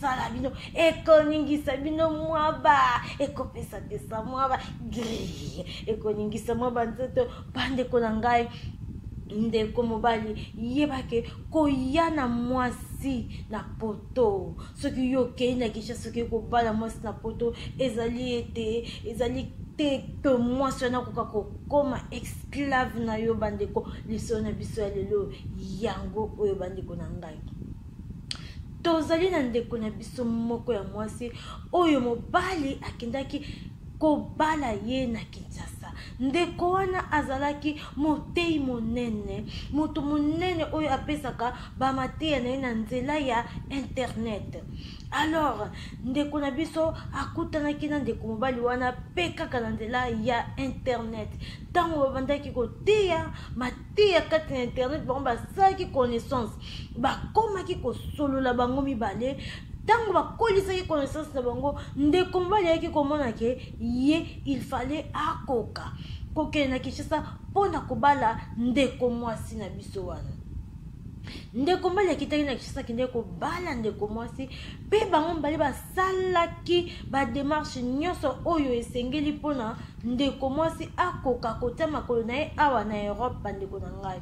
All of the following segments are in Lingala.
sala bino ekoningisa bino mwaba ekopesa pesa mwaba gri ekoningisa mwaba nzoto bandeko na ngai ndeko mobali yebake koya na mwasi mwasi na poto soki yo okei na kisha soki kobala mwasi na poto ezali ete ezali te ke mwasi wana akoka kokoma esclave na yo bandeko lisolo na biso ya lelo yango oyo bandeko na ngai tozali na ndeko na biso moko ya mwasi oyo mobali akendaki kobala ye na kinshasa ndeko wana azalaki motei monene moto monene oyo apesaka bamateya na ye na nzela ya internet alors ndeko na biso akutanaki na ndeko mobali wana mpe kaka na nzela ya internet ntango babandaki koteya te ya kati na internet bango basalaki connaissance bakomaki kosolola bango mibale ntango bakolisaki connaissance na bango ndeko mobali ayaki komona ke ye il fallait akoka kokende na kinshasa mpo na kobala ndeko mwasi na biso wana ndeko mobali akitaki na kinshasa akendeki kobala ndeko mwasi mpe bango mibale asalaki bademarche nyonso oyo esengeli mpo na ndeko mwasi akoka kotya makolo na ye awa na europe bandeko na ngai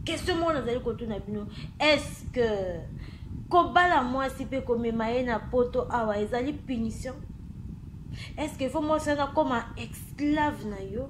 question moko nazali kotuna bino est-ce que kobala mwasi mpe komema ye na poto awa ezali punition est-ce que fo mwasi wana akoma esclave na yo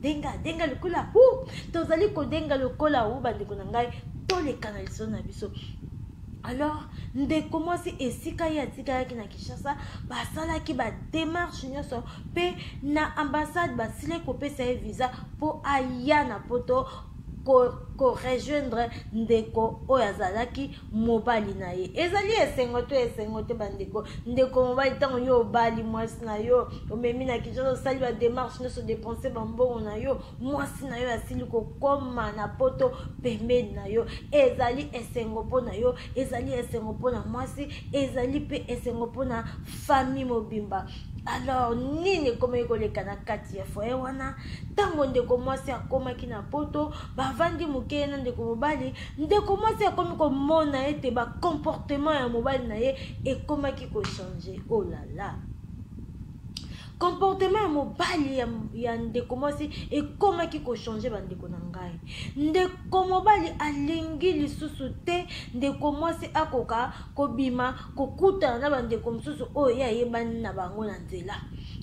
denga denga lokola hu tozali kodenga lokola hu bandeko na ngai toleka na lisolo na biso alors ndeko mwasi esika ye atikalaki na kinshasa basalaki bademarshe nyonso mpe na ambassade basili kopesa ye visa mpo aya na poto korejoindre ko ndeko oyo azalaki mobali na ye ezali esengo to esengo te bandeko ndeko mobali ntango yo obali mwasi na yo omemi na kinshasa osali bademarche nyonso depense bambongo na yo mwasi na yo asili kokoma na poto pembeni na yo ezali esengo mpo na yo ezali esengo mpo na mwasi ezali mpe esengo mpo na fami mobimba alors nini ekomaki koleka na kati ya foye wana ntango ndeko mwasi akomaki na poto bavandi moke ye na ndeko mobali ndeko mwasi akomi komona ete bacomportement ya mobali na ye ekomaki kochange olala oh comportement ya mobali ya, ya ndeko mwasi ekomaki kochange bandeko na ngai ndeko mobali alingi lisusu te ndeko mwasi akoka kobima kokutana na bandeko mosusu oyo ye ayebani na bango na nzela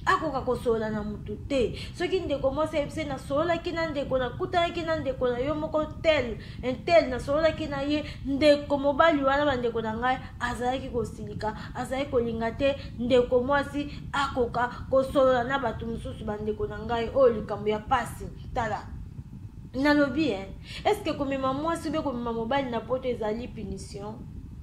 akoka kosolola na motu te soki ndeko mwasi ayebisi nasololaki na ndeko nakutanaki na ndeko na yo moko tel intel nasololaki na ye ndeko mobali wana bandeko na ngai azalaki kosilika azalaki kolinga te ndeko mwasi akoka kosolola na bato mosusu bandeko na ngai oyo likambo ya mpasi tala nalobi e eske komema mwasi obe komema mobali na poto ezali punition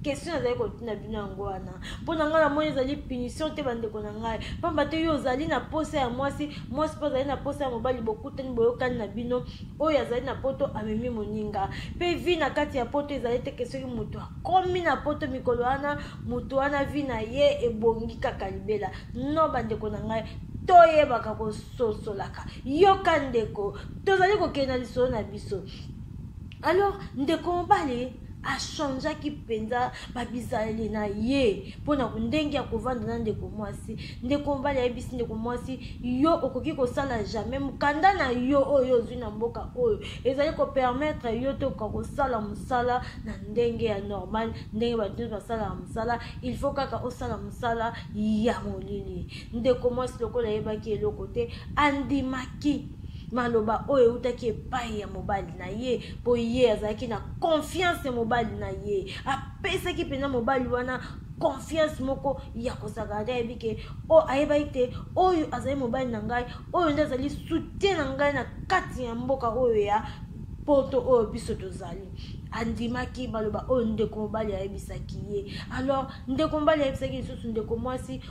question nazali kotuna bino yango wana mpo na ngai namoni ezali punition te bandeko na ngai mpamba te yo ozali na posa ya mwasi mwasi mpe azali na posa ya mobali bokutani boyokani na bino oyo azali na poto amemi moninga mpe vi na kati ya poto ezali teke soki moto akomi na poto mikolo wana moto wana vi na ye ebongi kaka libela no bandeko na ngai toyebaka kososolaka yoka ndeko tozali kokende na lisolo na biso alors ndeko mobali achangeaki mpenza babizaleli na ye mpo na ndenge ya kovanda na ndeko mwasi ndeko mobali ayebisi ndeko mwasi yo okoki kosala jamais mokanda na yo oyo ozwi na mboka oyo ezali kopermettre yo te okoka kosala mosala na ndenge ya normal ndenge bato nyonso basalaka mosala il faut kaka osala mosala ya molili ndeko mwasi lokola ayebaki eloko te andimaki maloba oyo eutaki epai ya mobali na ye mpo ye azalaki na konfiance ya mobali na ye apesaki mpenza mobali wana confiance moko ya kozalaka ata ayebi ke o ayebaki te oyo azali mobali na ngai oyo nde azali soutien na ngai na kati ya mboka oyo ya poto oyo biso tozali andimaki baloba oyo ndeko mobali ayebisaki ye alors ndeko mobali ayebisaki lisusu ndeko mwasi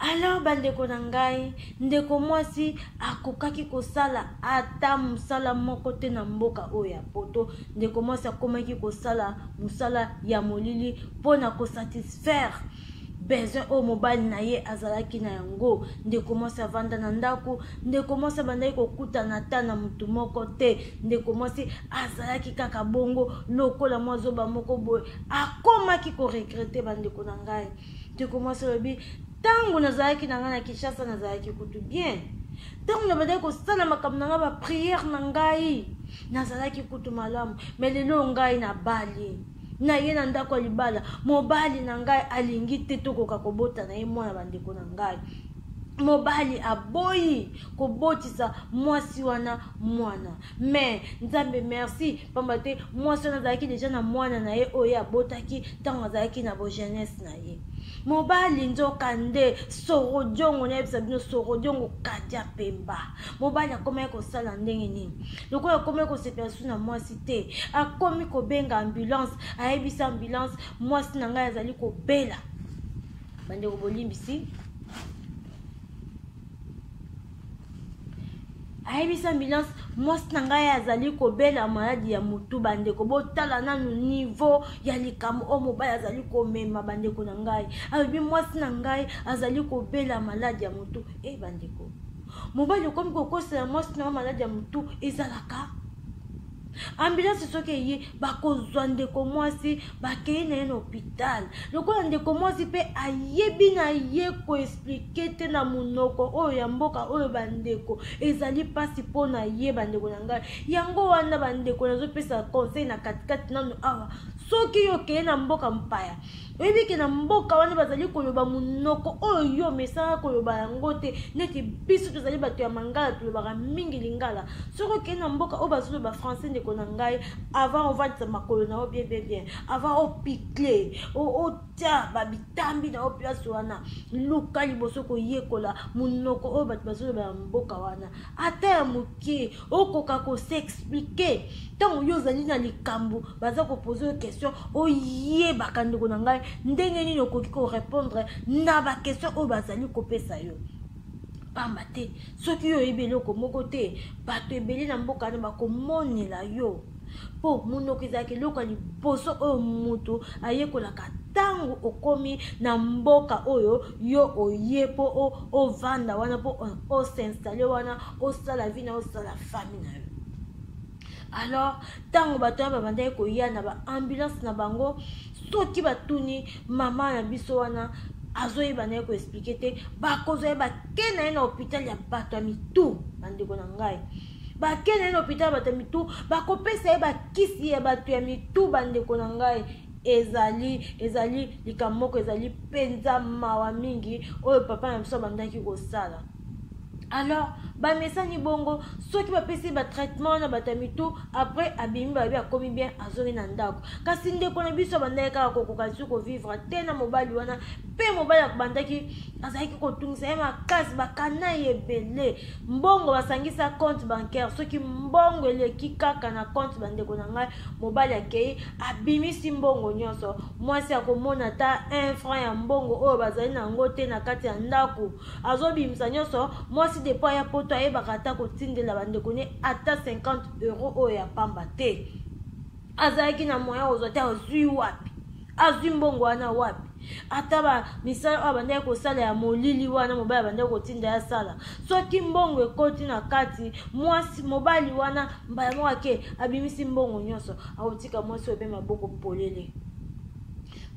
alors bandeko na ngai ndeko mwasi akokaki kosala ata mosala moko te na mboka oyo ya poto ndeko mwasi akomaki kosala mosala ya molili mpo na kosatisfaire besoin oyo mobali na ye azalaki na yango ndeko mwasi avanda na ndako ndeko mwasi abandaki kokutana ata na motu moko te ndeko mwasi azalaki kaka bongo lokola mwa zoba moko boye akomaki koregrete bandeko na ngai ndeko mwasi alobi ntango nazalaki na ngai na kinshasa nazalaki kutu bien ntango nabandaki kosala makambo na ngai bapriere na ngai nazalaki kutu malamu me lelo ngai nabali na ye na ndako ya libala mobali na ngai alingi te tokoka kobota na ye mwana bandeko na ngai mobali aboyi kobotisa mwasi wana mwana mais nzambe merci mpamba te mwasi wana azalaki deja na mwana na ye oyo abotaki ntango azalaki na bogenese na ye mobali nzoka nde sorodiongo nayebisa bino sorodiongo kadia pemba mobali akomaki kosala ndenge nini lokola akomaki kosepela su na mwasi te akomi kobenga ambulance ayebisa ambulance mwasi na ngai azali kobela bandeko bolimbisi ayebisi ambulance mwasi na ngai azali kobela maladi ya motu bandeko botala nanu nivo ya likambo oyo mobali azali komema bandeko na ngai alobi mwasi na ngai azali kobela maladi ya motu e eh, bandeko mobali okomi kokosela mwasi na yo maladi ya motu ezalaka ambulance soki eye bakozwa ndeko mwasi bakei na ye na hôpital lokola ndeko mwasi mpe ayebi na ye koexplike te na monoko oyo ya mboka oyo bandeko ezali mpasi mpo na ye bandeko na ngai yango wana bandeko nazopesa conseil na katikati nano awa soki yo okei na mboka mpaya oyebi ke na mboka wana bazali koloba monoko oyo yo omesana koloba yango te neti biso tozali bato ya mangala tolobaka mingi lingala soki okei na mboka oyo bazoloba français ndeko na ngai avant ovandisa makolo na yo bien bien bien avant opikle otya babitambi na yo place wana luka liboso koyekola monoko oyo bato bazoloba ya mboka wana ata ya ke okoka koseexplike ntango yo ozali na likambo baza kopose yo question oyebaka ndeko na ngai ndenge nini okoki korepondre na baquestion oyo bazali kopesa yo pamba te soki yo oyebi eloko moko te bato ebele na mboka na bakomonela yo mpo monoko ezalaka eloko ya liboso oyo moto ayekolaka ntango okomi na mboka oyo yo oye mpo ovanda wana mpo osinstale wana osala vi na osala fami na yo alors ntango bato wana babandaki koya na baambulance na bango soki batuni mama na biso wana azoyeba na ye koexplike te bakozwa ye bake na ye na hôpital ya bato ya mitu bandeko na ngai bakende na hôpital bato ya mitu bakopesa ye bakisi ya bato ya mitu bandeko na ngai ezali ezali likambo moko ezali mpenza mawa mingi oyo papa na biso abandaki kosala alors bamesani bongo soki bapesi batraitement na bato ya mitu après abimi babi akomi bien azongi na ndako kasi ndeko na biso abandaki kaka kokoka lisusu kovivre te na mobali wana mpe mobali abandaki azalaki kotungisa ye makasi bakana ye ebele mbongo basangisa compte bancaire soki mbongo eleki kaka na compte bandeko na ngai mobali akei abimisi mbongo nyonso mwasi akomona ata un franc ya mbongo oyo bazali na yango te na kati ya ndako azobimisa nyonso mwasi depo ya poto ayebaka ata kotindela bandeko ne ata 50 euro oyo ya pamba te azalaki na moyen ozwa te azwi wapi azwi mbongo wana wapi ata ba misala oyo abandaki kosala ya molili wana mobali abandaki kotinda ya sala soki mbongo ekoti na kati mwasi mobali wana mbala moko ake abimisi mbongo nyonso akotika mwasi oyo mpe maboko polele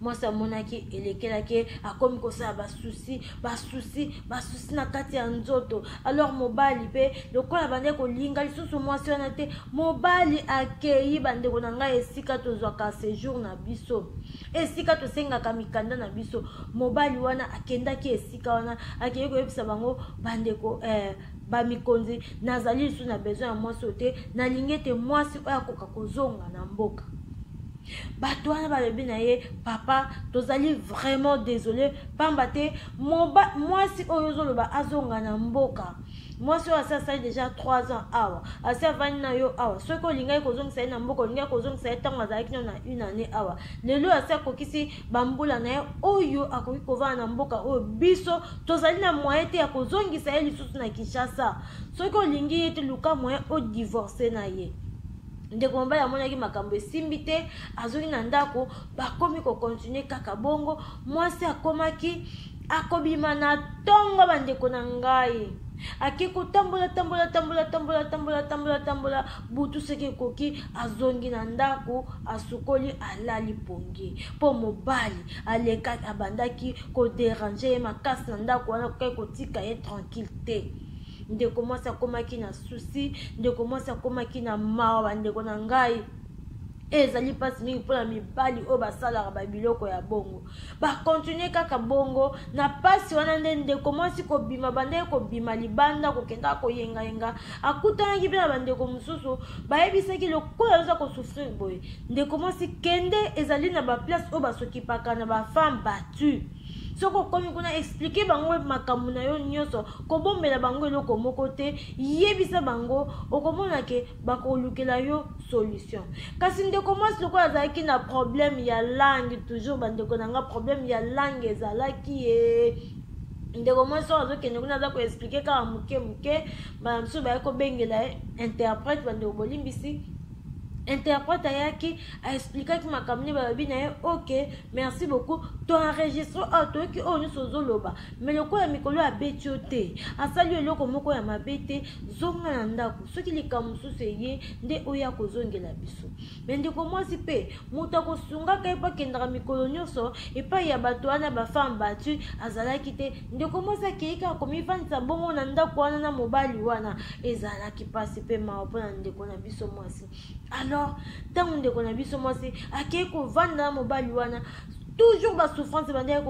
mwasi amonaki elekelaki akomi kosala basusi basusi basusi na kati ya nzoto alors mobali mpe lokola bande kolinga lisusu mwasi wana te mobali akei bandeko na ngai esika tozwaka sejour na biso esika tosengaka mikanda na biso mobali wana akendaki esika wana akei koyebisa bango bandeko eh, bamikonzi nazali lisusu na besoin ya mwasi oyo te nalingi ete mwasi oyo akoka kozonga na mboka bato wana balobi na ye papa tozali vraiment désolé mpamba te mwasi oyo ozoloba azonga na mboka mwasi oyo asi asali deja 3 ans awa asi avandi na yo awa soki olingaki kozongisa ye na mboka olingaki kozongisa ye ntango azalaki no na une année awa lelo oyo asi akokisi bambula na ye oyo akoki kovanda na mboka oyo biso tozali na moye te ya kozongisa ye lisusu na kinshasa soki olingi ye te luka moye odivorce na ye ndeko mobali amonaki makambo esimbi te azongi na ndako bakomi kokontinue kaka bongo mwasi akomaki akobima na ntongo bandeko na ngai ake kotambola tambola tambola tambola tambola tambola tambola butu soki ekoki azongi na ndako asukoli alali pongi mpo mobali aleka abandaki koderange ye makasi na ndako wana kokaki kotika ye tranquille te ndeko mwasi akomaki na susi ndeko mwasi akomaki na mawa bandeko na ngai ezali mpasi mingi mpo na mibali oyo basalaka babiloko ya bongo bakontinue kaka bongo na mpasi wana nde ndeko mwasi kobima bandeki kobima libanda kokendaka koyengayenga akutanaki mpe na bandeko mosusu bayebisaki lokola oza kosouffrir boye ndeko mwasi kende ezali na baplace oyo basokipaka na bafemme battue soki okomi kuna explike bango makambo na yo nyonso kobombela bango eloko moko te yebisa bango okomona ke bakolukela yo solution kasi ndeko mwasi lokola azalaki na problème ya langue toujours bandeko na nga problème ya langue ezalaki ye ndeko mwasi oyo azokende kuna aza koexplike kaka moke moke bana mosusu bayaki kobengela ye interprète bandeko bolimbisi interprète ayaki aexplikaki makambo nde balobi na ye ok merci beaucoup to enregistre oyo ah, toyoki oyo oh, nyonso ozoloba me lokola mikolo ya beti yo te asali eloko moko ya mabe te zonga na ndako soki likambo mosusu eye nde oya kozongela biso me ndeko mwasi mpe moto akosungaka ye mpo akendaka mikolo nyonso epai ya bato wana bafemme batu azalaki te ndeko mwasi akei kaka komifandisa bongo na ndako wana na mobali wana ezalaki mpasi mpe mawa mpo na ndeko na biso mwasi alors ntango ndeko na biso mwasi akei kovanda na mobali wana toujours basouffrance ebandaki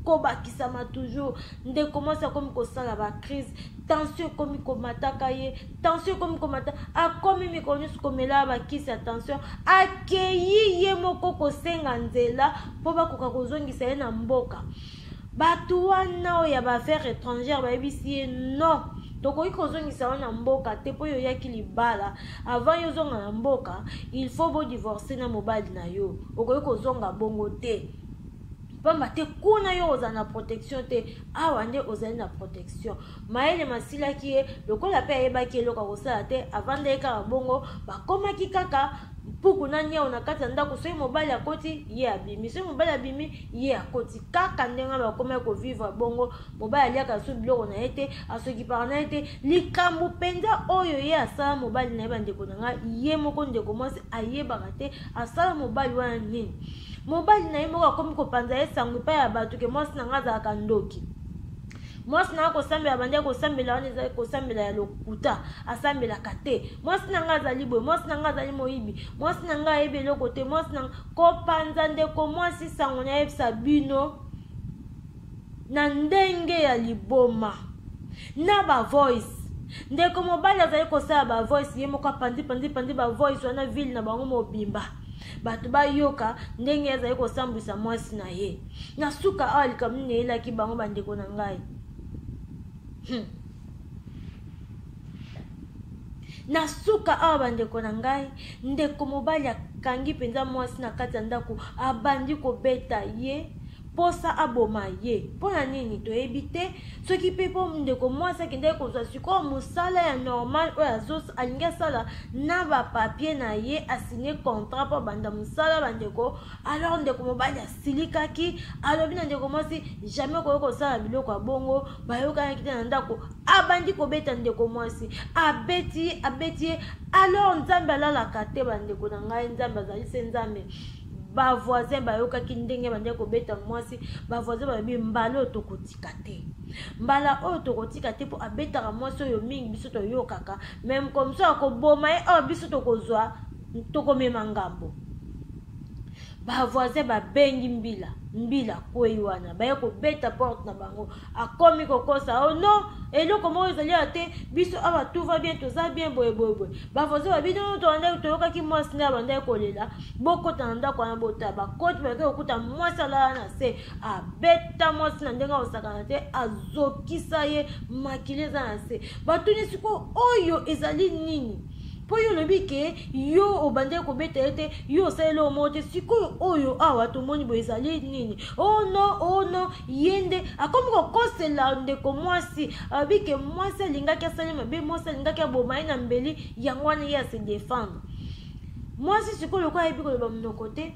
kobakisama toujours ndeko mwasi akomi kosala bacrise tension ekomi komataka ye tension ekomi komata akomi mikolo nyonso komela bakisi ya tension akei ye moko kosenga nzela mpo bakoka kozongisa ye na mboka bato wana oyo ya baaffaire étrangère bayebisi ye non tokoki kozongisa yo na mboka te mpo yo oyaki libala avant yo ozonga na mboka il faut bodivorce na mobali na yo okoki kozonga bongo te mpamba te kuna yo ozala na protection te awa nde ozali na protection mayele masilaki ye lokola mpe ayebaki eloko ya kosala te avandaki kaka bongo bakomaki kaka mpuku na nyau na kati ya ndako soki mobali akoti ye abimi soki mobali abimi ye akoti kaka ndenge wana bakomaki kovivre bongo mobali aliaka lisusu biloko na ye te asokipaka na ye te likambo mpenza oyo ye asala mobali na ye bandeko na ngai ye moko ndeko mwasi ayebaka te asala mobali wana nini mobali na ye moko akomi kopanza ye sango epai ya bato ke mwasi na ngai azalaka ndoki mwasi na nga kosambela bandi akosambela wana ezali kosambela ya lokuta asambelaka te mwasi na nga azali boye mwasi na nga azali moyibi mwasi na nga ayebi eloko te mwasi na kopanza ndeko mwasi sango nayebisa bino na ndenge ya liboma na bavoice ndeko mobali azali kosala bavoice ye moko apanzi panzi panzi bavoice wana ville na bango mobimba bato bayoka ndenge azali kosambwisa mwasi na ye na suka awa likambo nini eyelaki bango bandeko na ngai hmm. na suka awa bandeko na ngai ndeko mobali akangi mpenza mwasi na kati ya ndako abandi kobeta ye posa aboma ye mpo na nini toyebi te soki mpe mpo ndeko mwasi akendaki kozwa sikoyo mosala ya normal oyo alingi asala na bapapie na ye asigne contrat mpo abanda mosala bandeko alors ndeko mobali asilikaki alobi na ndeko mwasi jamais okoki kosala biloko ya bongo bayokanaki te na ndako abandi kobeta ndeko mwasi abeti ye abeti ye alors nzambe alalaka te bandeko na ngai nzambe azali se nzambe bavoisin bayokaki ndenge bandeki kobeta mwasi bavoisin balobi mbala oyo tokotika te mbala oyo tokotika te mpo abetaka mwasi oyo mingi biso toyokaka meme komso akoboma ye oyo oh, biso tokozwa tokomema ngambo bavoisin babengi mbila mbila kwei wana baye kobeta porte na bango akomi kokosa o oh no eloko moko ezali ya te biso awa tout va bien toza bien boyeboyeboye bavoisin ba bino toandaki toyokaki mwasi nde abandaki kolela bokota na ndako wana bota bakoti balaki kokuta mwasi alala na se abeta mwasi na ndenge akosakana te azokisa ye makili eza na se batuni sikoyo oyo ezali nini mpo yo olobi ke yo obandaki kobeta ye te yo osaleli oyo moko te sikoyo oyo awa tomoni boye ezali nini o oh no o oh no ye nde akomi kokosela ndeko mwasi alobi ke mwasi alingaki asali mabe mwasi alingaki aboma ye na mbeli yango wana ye ase defendre mwasi sikoyo lokola ayebi koloba monoko te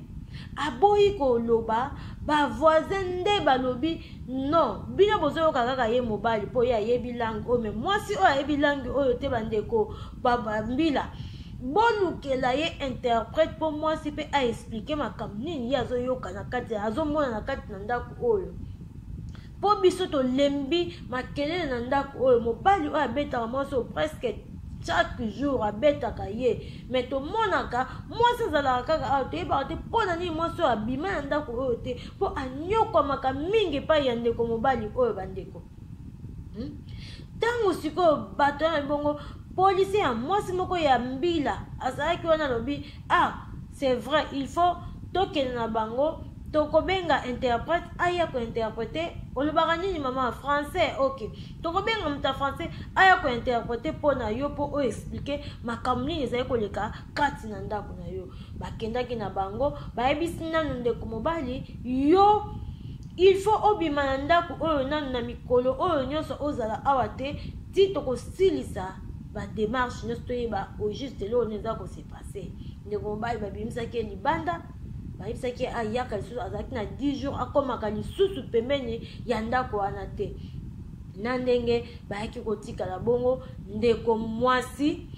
aboyi koloba bavoisin nde balobi non bino bozoyoka kaka ye mobali mpo ye ayebi langue oyo me mwasi oyo ayebi langue oyo te bandeko mbila bolukela ye interprète mpo mwasi mpe aexplike makambo nini ye azoyoka na kati azomona na kati na ndako oyo mpo biso tolembi makelele na ndako oyo mobali oyo abetaka mwasi oyo preske chaque jour abetaka ye mai tomonaka mwasi azalaka kaka awa toyebaka te mpo na nini mwasi oyo abima na ndako oyo te mpo anyokwamaka mingi epai ya ndeko mobali oyo bandeko hmm? ntango hmm? sikoyo bato wana ebongo polisi ya mwasi moko ya mbila azalaki wana alobi ah c'est vrai il faut tokende na bango tokobenga interprète aya kointerprete olobaka nini mama français ok tokobenga moto ya français aya kointerprete mpo na yo mpo oyo explike makambo nini ezali koleka kati na ndako na yo bakendaki na bango bayebisi nano ndeko mobali yo il faut obima na ndako oyo nano na mikolo oyo nyonso ozala awa te ti tokosilisa bademarche nyonso toyeba au juste eloko nini eza kose passe ndeko mobali babimisaki ye libanda bayebisaki ayaka lisusu azalaki na 10 jours akomaka lisusu pembeni ya ndako wana te na ndenge bayaki kotikala bongo ndeko mwasi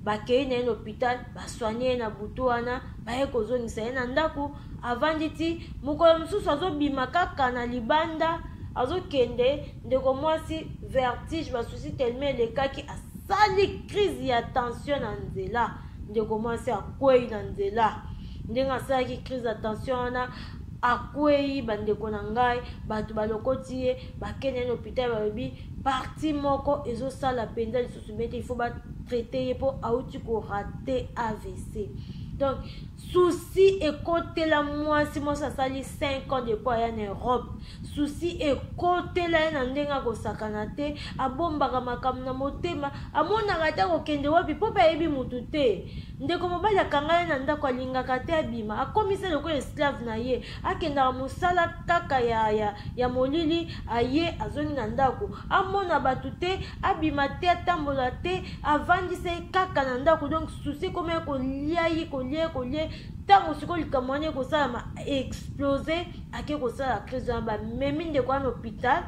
bakei na ye na hôpital baswani ye na butu wana baye kozongisa ye na ndako avandi ti mokolo mosusu azobima kaka na libanda azokende ndeko mwasi vertige basusi teleme elekaki asali crise ya tension na nzela ndeko mwasi akwei na nzela ndenge asalaki crise ya tension wana akwei bandeko na ngai bato balokoti ye bakende na hôpital balobi parti moko ezosala mpenza lisusu bete ifo batraite ye mpo auti korate avc donc souci ekotela mwasi mwasi asali 5 ans depuis aya na europe souci ekotela ye na ndenge akosakana te abombaka makambo na motema amonaka ata kokende wapi mpo mpe ayebi motu te ndeko mobali akanga ye na ndako alingaka te abima akomisa lokola esclave na ye akendaka mosala kaka ya, ya, ya molili aye azongi na ndako amona bato te abima te atambola te avandisa ye kaka na ndako donc susi ekoma ye kolia ye kolia ye kolia ntango sikoyo likambo wana ekosalama explose ake kosala crise wana bamemi ndeko wana hôpital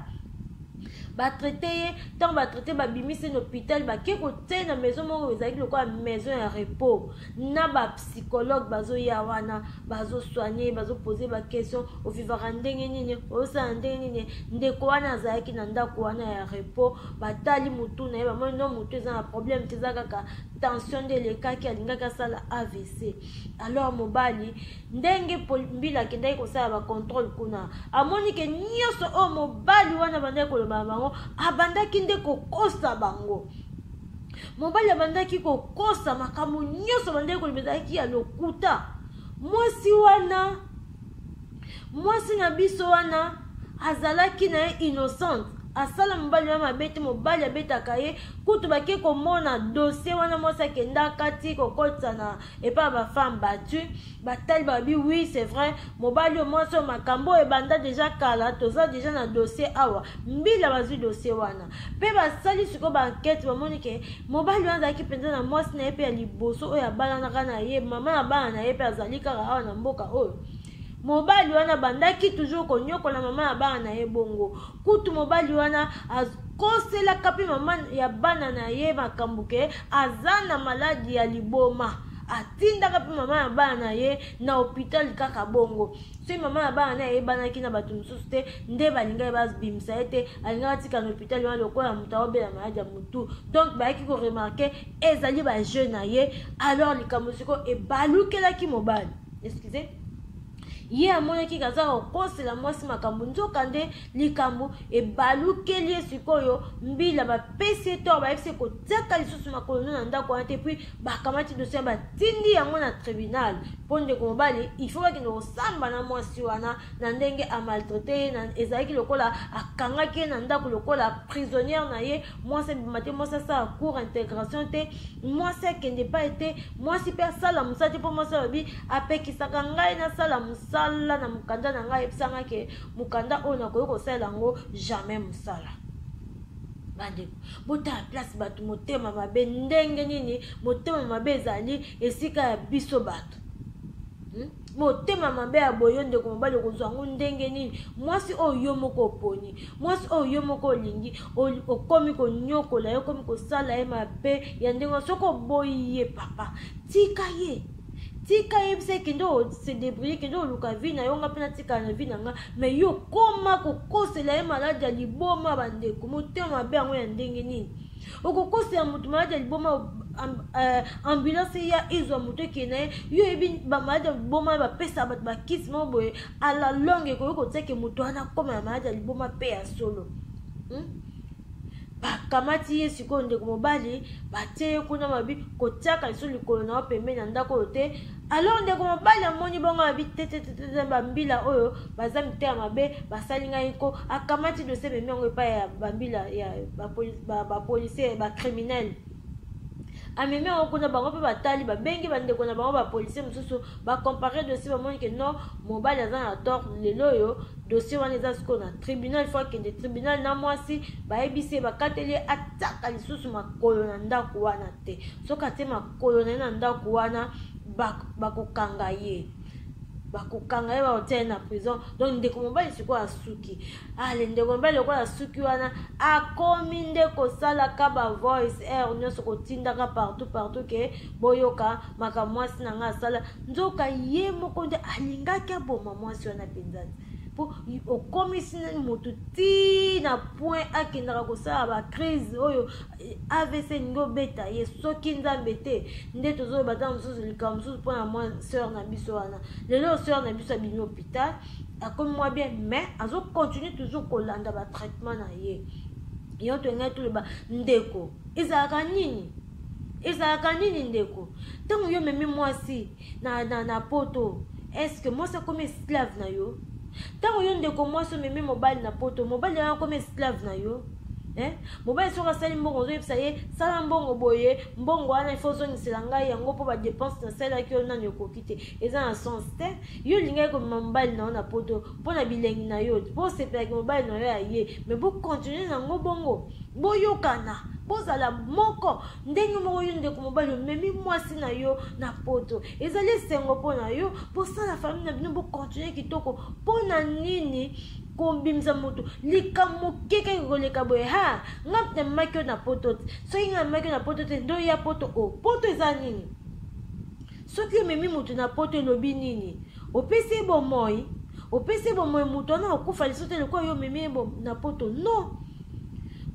batraite ye ntango batraite babimisi na hôpital bake kotie na maison moko ezalaki lokola maison ya repos na bapsychologue bazoya wana bazosoigne bazopose baquestion ovivaka ndenge nini ozosala ndenge nini ndeko wana azalaki na ndako wana ya repos batali motu na ye bamoni no motu eza na problème te eza kaka tension nde elekaki alingaki asala avc alors mobali ndenge mbila akendaki kosala bacontrole kuna amoni ke nyonso oyo mobali wana abandaki koloba na bango abandaki nde kokosa bango mobali abandaki kokosa makambo nyonso abandaki koloba ezalaki ya lokuta mwasi wana mwasi na biso wana azalaki na ye innocente asala mobali wana mabe te mobali abetaka ye kutu bake komona dosie wana mwasi akenda kati kokotisa na epai ya bafemme battu batali babi oui c'est vrai mobali oyo mwasi oyo makambo oyo ebanda deja kala toza deja na dosie awa mbila bazwi dosie wana mpe basali sikoyo baankete bamoni ke mobali wana azalaki mpenza na mwasi na ye mpe ya liboso oyo abalanaka na ye mama ya bana na ye mpe azali kaka awa na mboka oyo mobali wana abandaki toujours konyokola mama ya bana na ye bongo kutu mobali wana akoselaka mpe mama ya bana na ye makambo ke aza na maladi ya liboma atindaka mpe mama ya bana na ye na hopitale kaka bongo soki mama ya bana na ye ayebanaki na bato mosusu te nde balingaki babimisa ye te alingaka atika na hopitale wana lokola moto aobela maladi ya motu donc bayaki koremarke ezali bajeune na ye alors likambo siko ebalukelaki mobali excusez ye amonaki kaza kokosela mwasi makambo nzoka nde likambo ebalukeli ye sikoyo mbila bapesi ye toro bayebisi kotiaka lisusu makolo no na ndako wana te puis bakamati dosie batindi yango na tribunal mpo ndeko mobali ifo bakende kosamba na mwasi wana na ndenge amaltraite ye ezalaki lokola akangaki ye na ndako lokola prisonniere na ye mwasi abima te mwasi asala cour intégration te mwasi akende epai te mwasi mpe asala mosala te mpo mwasi alobi apekisaka ngai nasala mosala na mokanda na ngai ayebisa ngai ke mokanda oyo nakoki kosalela yango jamais mosala bandeko botala place bato motema mabe ndenge nini motema mabe ezali esika ya biso bato hmm? motema mabe ya boye yo ndeko mobali okozwa yango ndenge nini mwasi oyo yo moko oponi mwasi oyo yo moko olingi okomi konyokola ye okomi kosala ye mabe ya ndenge wana soki oboyi ye papa tika ye tika yebisa ye kende ose debrie kende oluka vi na yo nga mpe natikala na vi na nga mai yo okoma kokosela ye maladi ya liboma bandeko motema mabe yango ya ndenge nini okokosela moto maladi ya liboma eh, ambulance eya ezwa moto ekei na ye yo oyebi bamaladi ya liboma bapesaka bato bakisi moko boye ala longe ekoki kotiake moto wana akoma na maladi ya liboma mpe ya solo hmm? bakamati ye sikoyo ndeko mobali batie ye kuna mabi kotiaka liso likolo na yo pembeni ya ndako oyo te alors ndeko mobali amoni bongo abi tetetete bambila oyo baza mitema mabe basali ngai nko akamati dosie memi yango epai ya bambila ya bapolisier bacriminele ba amemi yango kuna bango mpe batali babengi bandeko na bango bapolisier mosusu bacompare dossier bamoni ke non mobali aza na tort lelo oyo dossier wana eza sikoyo na tribunal fo akende tribunal na mwasi bayebisi ye bakateli ye ataka lisusu makolo na ndako wana te soki atie kolo na ye na ndako wana bakokanga ba ye bakokanga ye bakotia ye na prison donc ndeko mobali sikoyo asuki ale ndeko mobali lokola asuki wana akomi nde kosalaka bavoice air eh, nyonso kotindaka partout partout ke boyoka makambo mwasi na ngai asala nzoka ye moko nde alingaki aboma mwasi wana mpenza te mpo okomisi motu ti na point akendaka kosala bacrise oyo avc elingi obeta ye soki nzambe te nde tozoloba ntango mosusu likambo mosusu mpo na mwa sœur na biso wana lelo sœur na biso abimi hôpital akomi mwa bien mais azocontinue toujours kolanda batraitement na ye yango tolingai toloba ndeko ezalaka nini ezalaka nini ndeko ntango yo omemi mwasi na, na, na poto eske mwasi akomi esclave na yo ntango yo ndeko mwasi omemi mobali na poto mobali yango akomi esclave na yo eh? mobali soki asali mbongo ozoyebisa ye sala mbongo boye mbongo wana ifo ozongisela ngai yango mpo badepense nasalaki yo nani okoki te eza na sens te yo olingaki komema mobali na yo na poto mpo na bilengi na yo mpo osepelaki mobali na yo ya ye me bokontinue na yango bongo boyokana bozala moko ndenge moko yo ndeko mobali omemi mwasi na yo na poto ezali esengo mpo na yo bosala famille na bino bokontinue kitoko mpo na nini kobimisa moto likambo moke kaka koleka boye ha nga mpe namemaki yo na poto te soki nga namemaki yo na poto te ndo ya poto o oh, poto eza nini soki omemi moto na poto elobi nini opesi ye bomoi opesi ye bomoi moto wana okufa liso te lokola yo omemi ye na poto non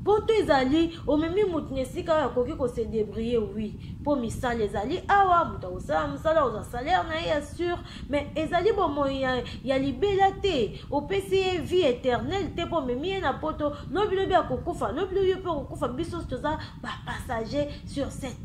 poto ezali omemi moto na esika oyo akoki kose debrie wi mpo misala ezali awa moto akosala mosala ozwa salaire na ye ya sur mais ezali bomoi ya, ya libela te opesi ye vie éternelle te mpo omemi ye na poto lobilobi akokufa lobilobi yo mpe okokufa biso toza bapassager sur cette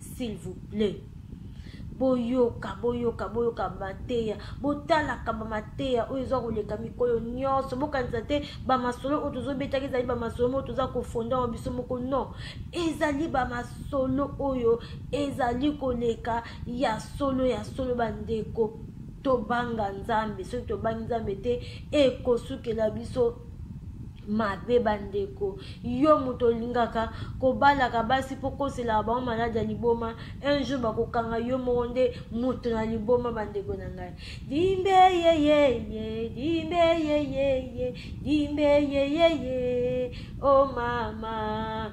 s'il vous plaît boyoka boyoka boyoka mateya botalaka bamateya oyo eza koleka mikolo nyonso bokanisa te bamasolo oyo tozobetaki ezali bamasolo moko toza kofonda wa biso moko non ezali bamasolo oyo ezali koleka ya solo ya solo bandeko tobanga nzambe soki tobangi nzambe te ekosukela biso mabe bandeko yo moto olingaka kobalaka basi mpo koselaka bango maladi ya liboma un jour bakokanga yo moko nde moto na liboma bandeko na ngai dimbe yeyeye dimbe yeyeye dimbe yeyeye o oh mama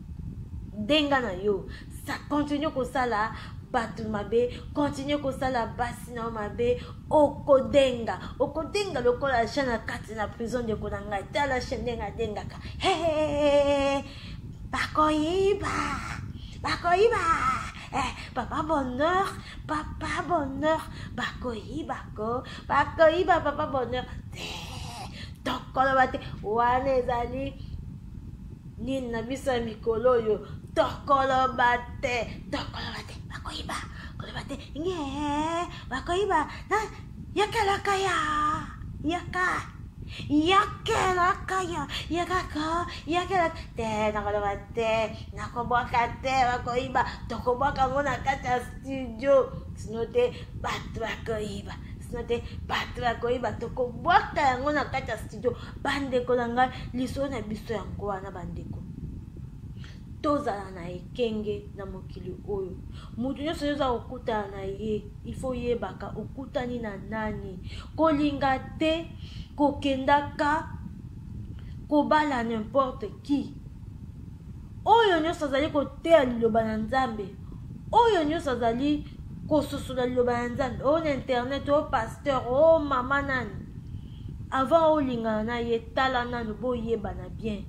denga na yo sa continue kosala bato mabe continue kosala basi na yo mabe okodenga okodenga lokola ja na kati na prison ndeko na ngai tala che ndenge adengaka hehehe bakoyiba bakoyiba eh, papa bonheur papa bonheur bakoyiba ko bakoyiba papa bonheur te tokoloba te wana ezali nini na biso ya mikolo oyo tokoloba te tokoloba te bakoyiba koloba te nge bakoyiba yokelaka ya yaka yakelaka ya yakaka yakelaka te nakoloba te nakobwaka te bakoyiba tokobwaka yango na kati ya studio sino te bato bakoyiba sino te bato bakoyiba tokobwaka yango na kati ya studio bandeko na ngai lisolo na biso yango wana bandeko tozala na ekenge na mokili oyo moto nyonso oyo oza kokutana na ye ifo yebaka okutani na nani kolinga te kokendaka kobala nimporte qui oyo nyonso azali koteya liloba na nzambe oyo nyonso azali kososola liloba na nzambe oyo na internet oyo pasteur oyo mama nani avant olingana na ye tala nanu boyebana bien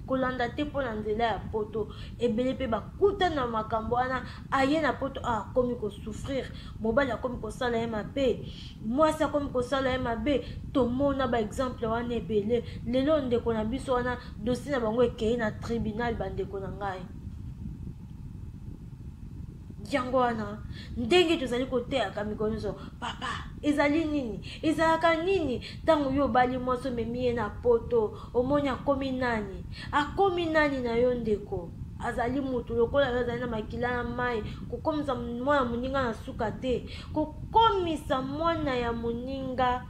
kolanda te mpo na nzela ya poto ebele mpe bakutani na makambo wana aye na poto ah, akomi kosouffrir mobali akomi kosala ye mabe mwasi akomi kosala ye mabe tomona baexemple wana ebele lelo ndeko na biso wana dosi na bango ekei na tribunal bandeko na ngai yango wana ndenge tozali koteyaka mikolo nyonso papa ezali nini ezalaka nini ntango yo obali mwasi omemi ye na poto omoni akomi nani akomi nani na yo ndeko azali motu lokola yo azali na makila ya mai kokomisa mwana moninga na suka te kokomisa mwana ya moninga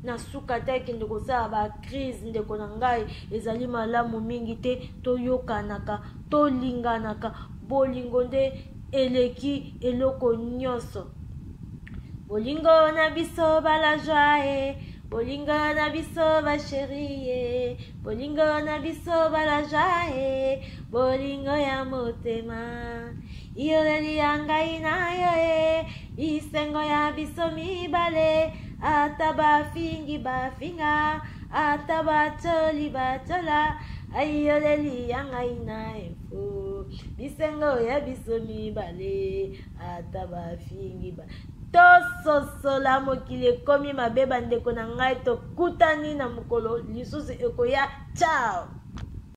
na suka te kende kosala bacrise ndeko na ngai ezali malamu mingi te toyokanaka tolinganaka bolingo nde eleki eloko nyonso bolingo na biso balajoie bolingo na biso basherie bolingo na biso balajoie bolingo ya motema iyoleli ya ngai na yo e bisengo ya biso mibale ata bafingi bafinga ata batoli batola ayoleli ya ngai na info bisengo ya biso mibale ata bafingi ba tososola mokili ekomi mabe bandeko na ngai tokutani na mokolo lisusu ekoya ciao